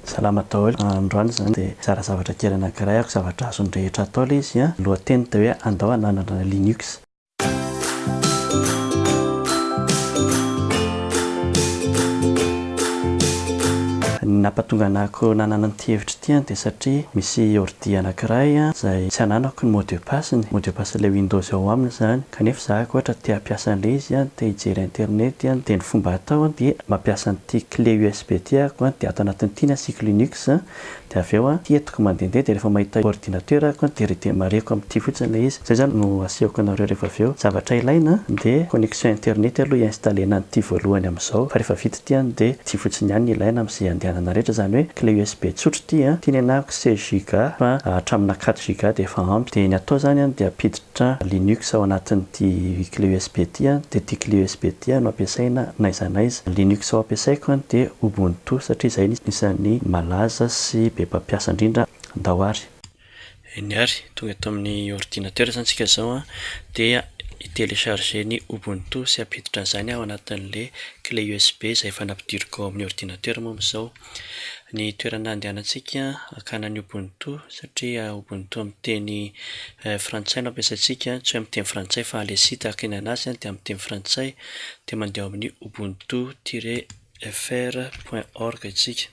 Salama daholo, androany izany dia hizara zavatra kely anankiray aho, zavatra azon'ny rehetra atao ilay izy, ny lohateny dia hoe andao hananana Linux. Ny nampahatonga anako nanana an'ity hevitra ity dia satria misy dia anakiray izay tsy ananako ny mot de passe ny mot de passe ilay windows ao aminy izany kanefa za ko ohatra te hampiasa an'ilay izy an te hijery internet an dia ny fomba atao dia mampiasa an'ity clé usb ity ahako dia ato anatin'ity ny asiako linux dia avy eo ity entiko mandehandeha dia rehefa mahita ordinateur ahako dia redemarreko amin'ity fotsiny ilay izy izay izany no asehoko anareo rehefa avy eo zavatra ilaina dia connexion internet aloha hi-installena an'ity voalohany amin'izao fa rehefa vita Tiany dia ity fotsiny ihany ny ilaina amin'izay andehanana rehetra izany hoe clé usb tsotra ity an, tiany hanahiko seize giga fa hatramina quatre giga dia efa ampy, dia ny atao izany an dia ampiditra linux ao anatin'ity clé usb ity an, dia ity clé usb ity an no ampiasaina n'aiza n'aiza, linux ao ampiasaiko an dia ubuntu satria izay no isan'ny malaza sy be mpampiasa indrindra ndao ary. Eny ary, tonga eto amin'ny ordinatera izany isika izao an, dia hi-telecharger ny Ubuntu sy hampiditra an'izany ao anatin'le clé usb izay efa nampidiriko ao amin'ny ordinatera moa amin'izao. Ny toerana andehanantsika hakana an'i Ubuntu satria Ubuntu amin'ny teny frantsay no ampiasaintsika, tsy hoe amin'ny teny frantsay fa le site hakinana azy dia amin'ny teny frantsay, dia mandeha ao amin'ny ubuntu tiret fr point org isika.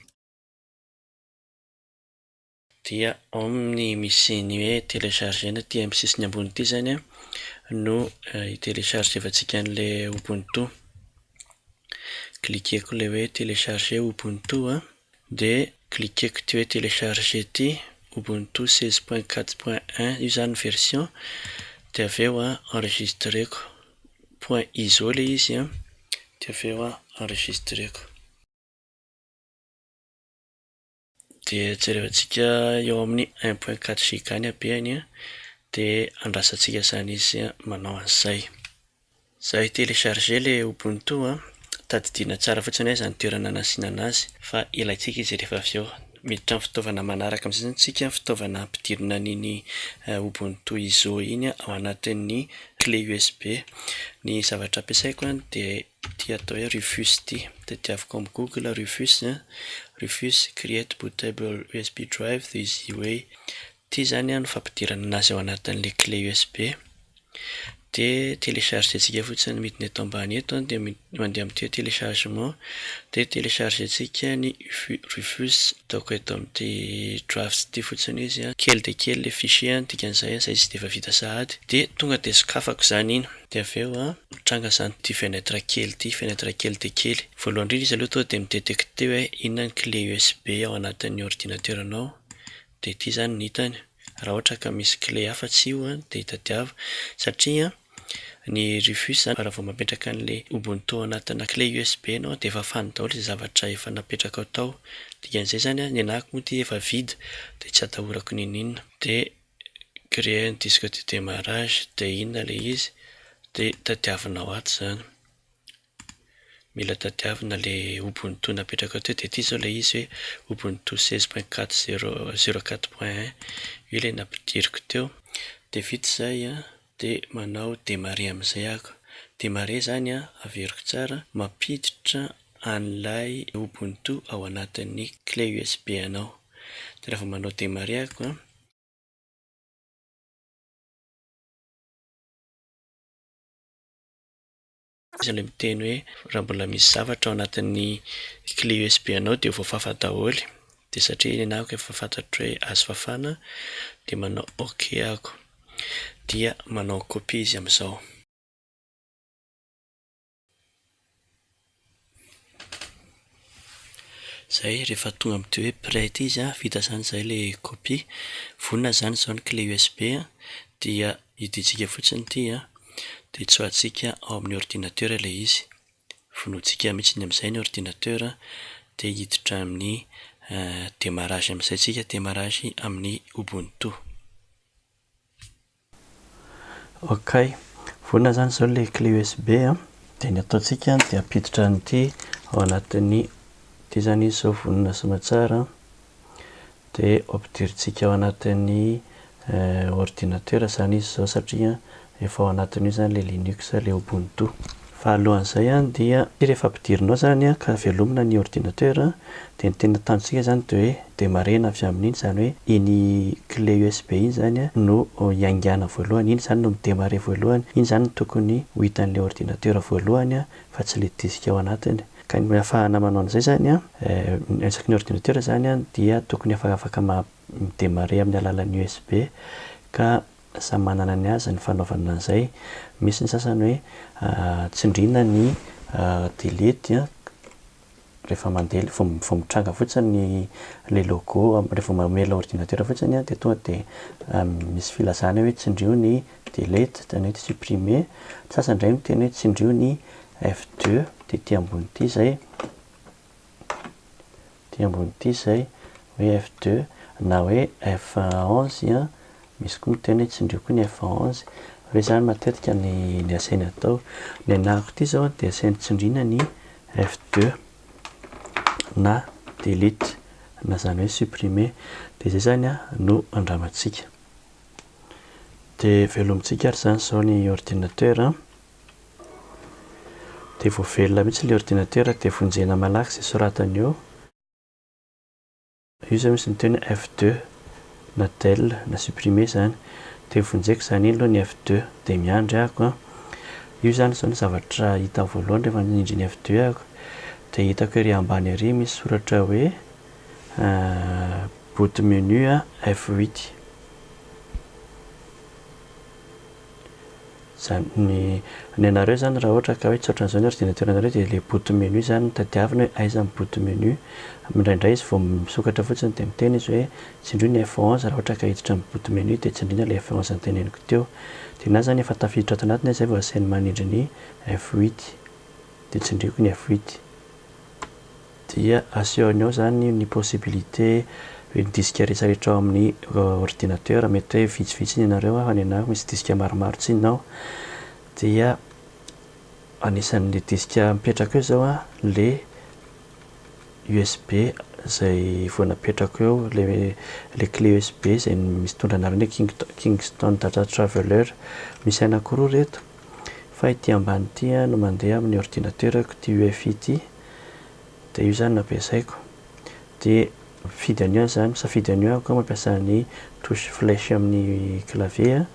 dia ao amin'ny misy ny hoe telecharger na aty amin'ny sisiny ambony ity izany no hi-telechargevantsika an'ilay Ubuntu. Cliquer-ko ilay hoe telecharger Ubuntu dia cliquer-ko ity hoe telecharger ity, Ubuntu seize point quatre point un io izany ny version, dia avy eo enregistrer-ko, point iso ilay izy an, dia avy eo enregistrer-ko. Dia jerevantsika eo amin'ny un point quatre giga ny habeany dia andrasantsika izany izy manao an'izay. Za hi-telecharger ilay Ubuntu a, tadidiana tsara fotsiny aiza ny toerana anasiana anazy fa ilaintsika izy rehefa avy eo. Miditra amin'ny fitaovana manaraka amin'izay zany isika, fitaovana ampidirina an'iny Ubuntu iso iny ao anatin'ny clé USB. Ny zavatra ampiasaiko dia Ity atao hoe Rufus ity. Tadiaviko amin'ny Google Rufus a, Rufus create bootable usb drive the easy way. Ity izany no fampidirana anazy ao anatin'ilay clé usb. Dia telechargentsika fotsiny midina eto ambany eto dia mandeha amin'ity hoe téléchargement dia telechargentsika ny Rufus. Ataoko eto amin'ity drafts ity fotsiny izy a. Kely dia kely ilay fichier a, ny dikan'izay a, izay izy dia efa vita sahady. Dia tonga dia sokafako izany iny. Dia avy eo a. Mitranga izany ity fenêtre kely ity, fenêtre kely dia kely. Voalohany indrindra izy aloha tonga dia mi-detecter hoe inona ny clé USB ao anatin'ny ordinateur-nao, dia ity izany ny hitany. Raha ohatra ka misy clé hafa tsy io dia itadiava, satria ny Rufus izany raha vao mametraka an'ilay Ubuntu ao anatina clé USB ianao dia efa fany daholo izay zavatra efa napetrakao tao. Dikan'izay izany, ny anahako moa ity efa vide dia tsy atahorako n'inon'inona. Dia créer un disque de démarrage dia inona ilay izy dia tadiavinao ato izany, mila tadiavina ilay ubuntu napetrakao teo dia ity izao ilay izy hoe ubuntu seize point quatre zero zero quatre point un io ilay nampidiriko teo dia vita izay an! De manao demare amizay ako. Demare zany an, averiko tsara, mampiditra an'ilay ubuntu ao anatin'ny clé usb anao. De rehefa manao demare ako an. Iza ilay miteny hoe raha mbola misy zavatra ao anatin'ny clé USB anao dia voafafa daholo? Dia satria nenahy ako efa fantatro hoe azo fafana dia manao ok ako. Dia manao copie izy amin'izao. Zay rehefa tonga amin'ity hoe prêt ity izy an, vita zany zay le copie, vonona zany izao ny clé usb an, dia idintsika fotsiny ity an, dia tsoahatsika ao amin'ny ordinateur ilay izy, vonointsika mihitsy amin'izay ny ordinateur an, dia hiditra amin'ny démarrage amin'izay tsika, démarrage amin'ny ubuntu. Ok, vonona izany izao ilay clé USB an, dia ny ataontsika dia ampiditra an'ity ao anatin'ny, ity izany izy izao vonona sy mahatsara an, dia ampidirintsika ao anatin'ny ordinatera izany izy izao satria efa ao anatin'io izany ilay linux, ilay ubuntu. Fa alohan'izay dia rehefa ampidirinao izany ka velomina ny ordinateur dia ny tena tanjontsika izany dia hoe demarrena avy amin'iny izany hoe iny clé usb iny izany no iaingana voalohany, iny izany no mi-demarrer voalohany, iny izany no tokony ho hitan'ilay ordinateur voalohany fa tsy ilay disque ao anatiny. Ka ny ahafahana manao an'izay izany isaky ny ordinateur izany dia tokony efa afaka mi-demarrer amin'ny alalan'ny usb ka Samy manana ny azy ny fanaovana an'izay. Misy ny sasany hoe tsindriana ny delete rehefa mandeha ilay, vao mitranga fotsiny ilay logo, rehefa vao mamehy ilay ordinatera fotsiny dia tonga dia misy filazana hoe tsindrio ny delete, izany hoe supprimer. Ny sasany indray miteny hoe tsindrio ny F2, dia ity ambony ity izay. Ity ambony ity izay hoe F2 na hoe F11 an, misy koa miteny hoe tsindrio koa ny F11, hoe izany matetika ny asany atao. Ny anahako ity izao dia asany tsindriana ny F2 na delete na izany hoe supprimer. Dia izay izany no andramantsika. Dia velomintsika ary izany izao ny ordinateur. Dia vao velona mihitsy ilay ordinatera dia vonjena malaky izay soratany eo. Io izao misy ny teny F-deux na del na supprimer izany. Dia vonjeko izany iny aloha ny F-deux dia miandry aho ko. Io izany izao ny zavatra hita voalohany rehefa nindry ny F-deux aho. Dia hitako ery ambany ery misy soratra hoe bout de menu F-huit. Izany ny, ny anareo izany raha ohatra ka hoe tsy ohatran'izao ny ordinateranareo dia ilay boot menu izany no tadiavina hoe aiza ny boot menu. Indraindray izy vao misokatra fotsiny dia miteny izy hoe tsindrio ny F onze raha ohatra ka hiditra ny boot menu dia tsindriana ilay F onze noteneniko teo. Dia na izany efa tafiditra ato anatiny aza izay vao asainy manindry ny F huit. Dia tsindriako ny F huit. dia asehony ao izany ny possibilité hoe ny disque rehetrarehetra ao amin'ny ordinateur, mety hoe vitsivitsy ny anareo aho, ny anah misy disque maromaro tsinona ao, dia anisan'ilay disque mipetraka eo izao ilay usb izay vao napetrako eo, ilay clé usb izay mitondra ny anarana hoe Kingston Data Traveler, misy anankiroa ireto, fa ity ambany ity no mandeha amin'ny ordinateur-ko, ity UEFI ity, dia io izany no ampiasaiko dia mifidy an'io aho izany, misafidy an'io aho ka mampiasa ny touche flèche amin'ny clavier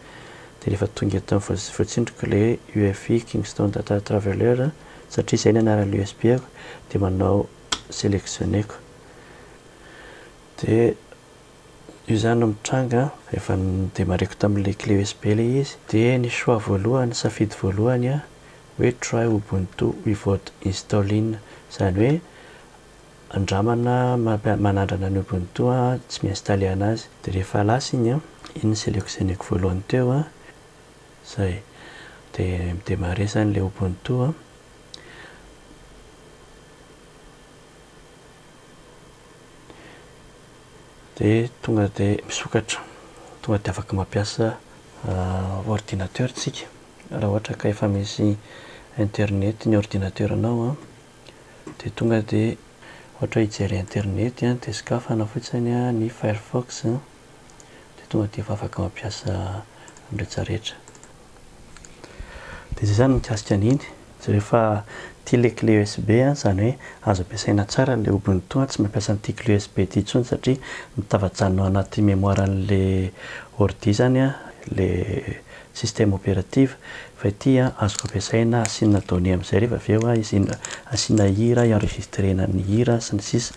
dia rehefa tonga eto amin'ny voatsindriko ilay UEFI Kingston Data Traveler satria izay no anaran'ny USB-ko dia manao sélectionner-ko dia io izany no mitranga efa ni-démarrer-ko tamin'ilay clé USB ilay izy dia ny choix voalohany, safidy voalohany, hoe try ubuntu without installing izany hoe andramana manandrana ny ubuntu tsy mi-installer anazy. Dia rehefa lasa iny an, iny ny selectionner-ko voalohany teo an, izay, dia mi-demarrer izany ilay ubuntu an. Dia tonga dia misokatra, tonga dia afaka mampiasa ordinateur isika. Raha ohatra ka efa misy internet ny ordinateranao an, dia tonga dia ohatra hoe hijery internet an, dia sokafana fotsiny an ny firefox an, dia tonga dia efa afaka mampiasa ny rehetra rehetra. Dia izay izany mikasika an'iny. Jereo efa tia ilay clé USB a, izany hoe azo ampiasaina tsara ilay Ubuntu a, tsy mampiasa an'ity clé USB ity intsony satria mitavajanona ao anaty mémoire an'ilay ordi izany a, ilay système opérative, fa ity a azoko ampiasaina asiana données amin'izay rehefa avy eo a, izina asiana hira hi-enregistrena ny hira sy ny sisa.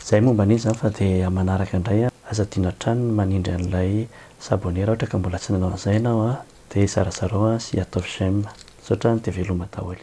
Izay momba an'iny izany fa dia amin'ny manaraka indray a, aza adino hatrany ny manindry an'ilay s'abonner raha ohatra ka mbola tsy nanao an'izay ianao a. Dia zarazarao an sy ataovy j'aime. Misaotra an dia veloma daholo.